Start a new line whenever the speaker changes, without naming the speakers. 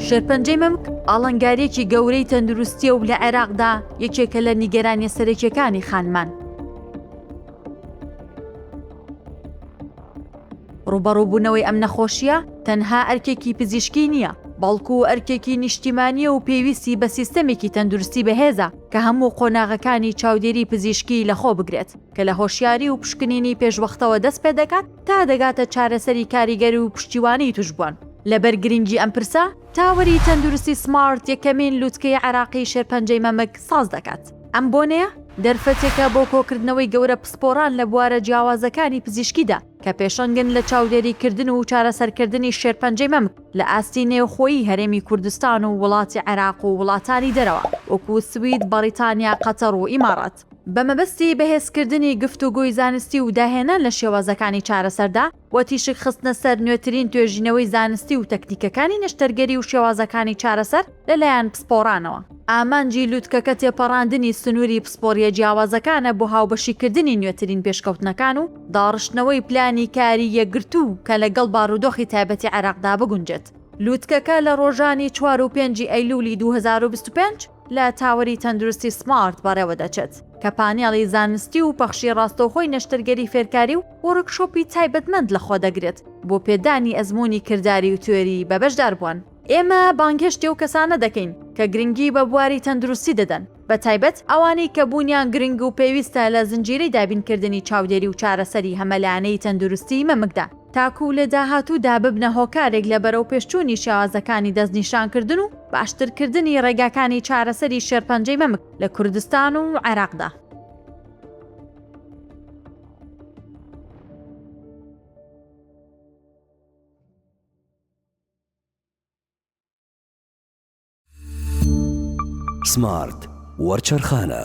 شێرپەنجەی مەمک ئاڵەنگاریەکی گەورەی تەندروستیە و لە عێراقدا یەکێکە لە نیگەرانیە سەرەکیەکانی خانمان. ڕوبەڕوبوونەوەی ئەم نەخۆشیە تەنها ئەرکێکی پزیشکی نییە، بەڵکو ئەرکێکی نیشتیمانیە و پێویستی بە سیستەمێکی تەندروستی بەهێزە کە هەموو قۆناغەکانی چاودێری پزیشکی لەخۆ بگرێت کە لە هۆشیاری و پشکنینی پێشوەختەوە دەست پێدەکات تا دەگاتە چارەسەری کاریگەر و پشتیوانی توشبوان. لەبەر گرنگی ئەم پرسە، تاوەری تەندروستی سمارت یەکەمین لوتکەی عێراقی شێرپەنجەی مەمک ساز دەکات. ئەم بۆنەیە دەرفەتێکە بۆ کۆکردنەوەی گەورە پسپۆران لە بوارە جیاوازەکانی پزیشکیدا کە پێشەنگن لە چاودێریکردن و چارەسەرکردنی شێرپەنجەی مەمک لە ئاستی نێوخۆیی هەرێمی کوردستان و وڵاتی عێراق و وڵاتانی دەرەوە وەکو سوید، بەڕیتانیا، قەتەڕ و ئیماڕات. بە مەبەستی بەهێزکردنی گفتوگۆی زانستی و داهێنان لە شێوازەکانی چارەسەردا و تیشک خستنە سەر نوێترین توێژینەوەی زانستی و تەکنیکەکانی نەشتەرگەری و شێوازەکانی چارەسەر لەلایەن پسپۆڕانەوە. ئامانجی لوتکەکە تێپەڕاندنی سنووری پسپۆرییە جیاوازەکانە بۆ هاوبەشیکردنی نوێترین پێشکەوتنەکان و داڕشتنەوەی پلانی کاری یەکگرتوو کە لەگەڵ بارودۆخی تایبەتی عێراقدا بگونجێت. لوتکەکە لە ڕۆژانی چوار و پێنجی ئەیلوولی دوو هەزار و بیست و پێنج، لە تاوەری تەندروستی سمارت بەڕێوە دەچێت، کە پانێڵی زانستی و پەخشی ڕاستەوخۆی نەشتەرگەری فێرکاری و وۆرکشۆپی تایبەتمەند لەخۆدەگرێت بۆ پێدانی ئەزموونی کرداری و تیۆری بە بەشداربووان. ئێمە بانگهێشتی ئەو کەسانە دەکەین کە گرنگی بە بواری تەندروستی دەدەن، بەتایبەت ئەوانەی کە بوونیان گرنگ و پێویستە لە زنجیرەی دابینکردنی چاودێری و چارەسەری هەمەلایەنەی تەندروستیی مەمکدا. تاکوو لە داهاتوودا ببنە هۆکارێک لە بەرەوپێشچوونی شێوازەکانی دەستنیشانکردن و باشترکردنی ڕێگاکانی چارەسەری شێرپەنجەی مەمک لە کوردستان و عێراقدا.
سمارت وەرچەرخانە.